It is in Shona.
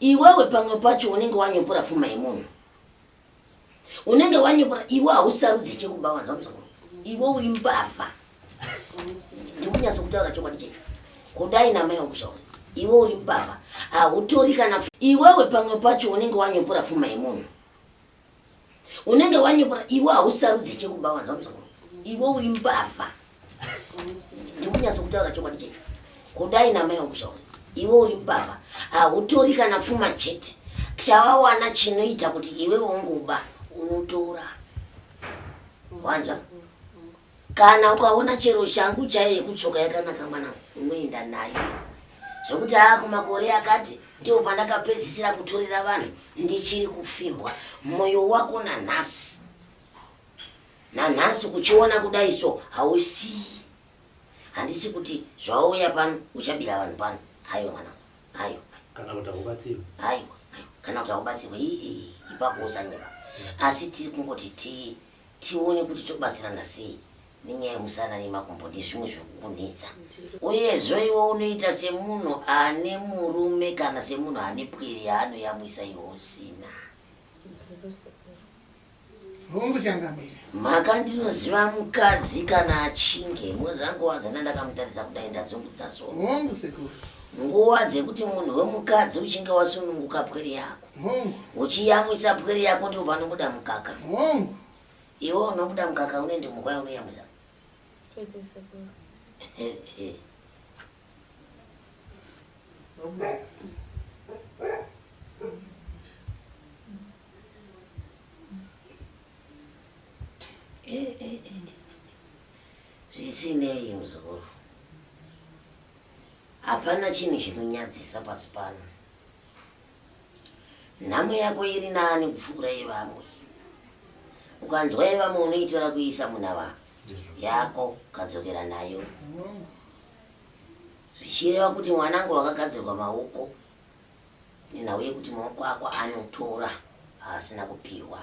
Iwewe pamwe pacho unenge wanyopora fuma yemunhu. Unenge wanyopora iwe hausarudze chekuba wanzwa muzukuru. Iwe uri mbavha. Ndikunyatsa kutaura chokwadi checho. Kudai na mai wangu Iwe uri mbavha. Hautori kana iwewe pamwe pacho unenge wanyopora fuma yemunhu. unenge wanyepura iwe hausarudze chekuba wanzwa muzukuru iwe uri mbavha ndikunyatso kutaura chokwadi chete kudai namai wangu zvaona iwe uri mbavha hautori kana pfuma chete chawawana chinoita kuti iwe wongoba unotora wanzwa kana ukaona chero shangu chaiyo yekutsoka yakanaka mwana unoenda nayo zvekuti haa kumakore akati ndiwo pandakapedzisira kutorera vanhu ndichiri kufimbwa mwoyo wako nanhasi nanhasi kuchiona kudai so hausii handisi kuti zvauya pano uchabira vanhu pano aiwa mwana aiwa kana kuti haubatsirwe aiwa kana kuti haubatsirwe ipapo usanyepa asi tiri kungoti tii tione kuti tobatsirana sei nenyaya yemusana nemakumbo ndezvimwe zviri kukunetsa uyezvo iwe unoita semunhu ane murume kana semunhu ane pwere yaanoyamwisa iwe usina mhaka ndinoziva mukadzi kana achinge mozanguva dzana ndakamutarisa kudai ndadzungudza so nguva dzekuti munhu wemukadzi uchinge wasununguka pwere yako uchiyamwisa pwere yako ndipo panobuda mukaka iwe unobuda mukaka unoende mukwaya unoyamwisa zvisinei muzukuru hapana chinhu chinonyadzisa pasi pano Nhamo yako iri nani kupfuura yevamwe. Ukanzwa yevamwe unoitora kuiisa munhava yako ukadzokera nayo. Zvichireva kuti mwanangu wakagadzirwa maoko nenhau yekuti maoko ako anotora aasina kupihwa.